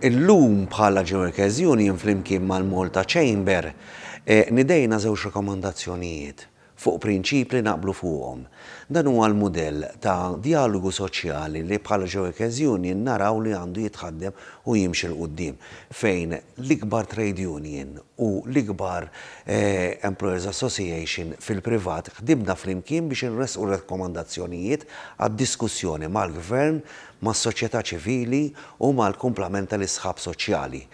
Illum bħala Ġeoekeżjon jien flimkien mal-Malta Chamber nidejna żewġ rekomandazzjonijiet fuq prinċip li naqblu fuqhom. Dan huwa l-mudell ta' djalogu soċjali li bħala Ġeoekeżjon jien naraw li għandu jitħaddem u jimxi 'l quddiem fejn l-ikbar trade union u l-ikbar employers association fil-privat ħdimna flimkien biex inressqu rekomandazzjonijiet għad-diskussjoni mal-Gvern mas-soċjetà ċivili u mal-kumplament tal-isħab soċjali.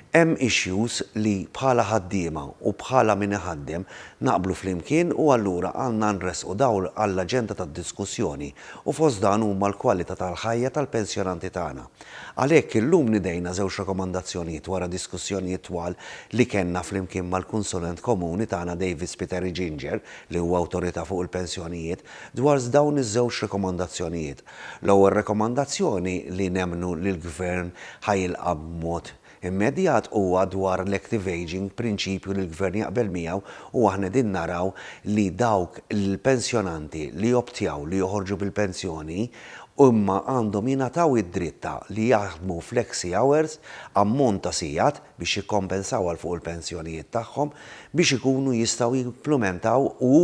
Hemm issues li bħala ħaddiema u bħala min iħaddem naqblu flimkien u allura għandna nressqu dawl għall-aġenda tad-diskussjoni u fost dan huma l-kwalità tal-ħajja tal-pensjonanti tagħna. Għalhekk illum nidejna żewġ rakkomandazzjonijiet wara diskussjonijiet twal li kellna flimkien mal-Kunsulent Komuni tagħna David Spiteri Ginger li huwa awtorità fuq il-pensjonijiet dwar dawn iż-żewġ rakkomandazzjonijiet. L-ewwel rekomandazzjoni li nemmnu li l-Gvern ħa jilqa' b'mod immedjat huwa dwar l-active ageing, prinċipju li l-Gvern jaqbel miegħu u aħna qegħdin naraw li dawk l-pensjonanti li joptjaw li joħorġu bil-pensjoni imma għandhom jingħataw id-dritt ta' li jaħdmu flexi hours, ammont ta' sigħat, biex jikkompensaw għal fuq il-pensjonijiet tagħhom biex ikunu jistgħu jimplimentaw u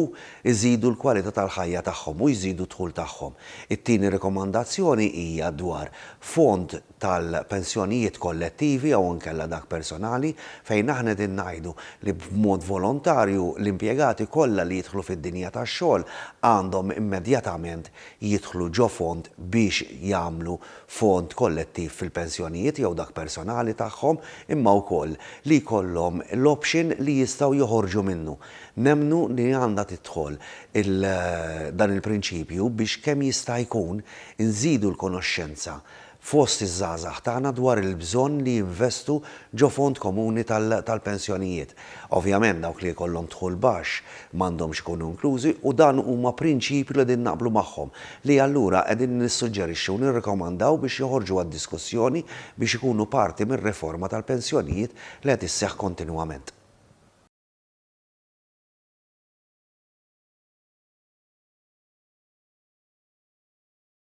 jżidu l-kwalità tal-ħajja tagħhom u jżidu d-dħul tagħhom. It-tieni rikomandazzjoni hija dwar fond tal-pensjonijiet kollettivi jew inkella dak personali fejn aħna qegħdin ngħidu li b'mod volontarju l-impjegati kollha li jidħlu fid-dinja tax-xogħol għandhom immedjatament jidħlu ġo fond biex jagħmlu fond kollettiv fil-pensjonijiet jew dak personali tagħhom, imma wkoll li jkollhom l-option li jistgħu joħorġu minnu. Nemmnu li għandha tidħol dan il-prinċipju biex kemm jista' jkun inżidu l-konoxxenza fost iż-żgħażagħ tagħna dwar il-bżonn li jinvestu ġo fond komuni tal-pensjonijiet. Ovvjament dawk li jkollhom dħul baxx m'għandhomx ikunu inklużi u dan huma prinċipju li qegħdin naqblu magħhom li allura qegħdin nissuġġerixxu u nirrikomandaw biex joħorġu għad-diskussjoni biex ikunu parti mir-riforma tal-pensjonijiet li qed isseħħ kontinwament.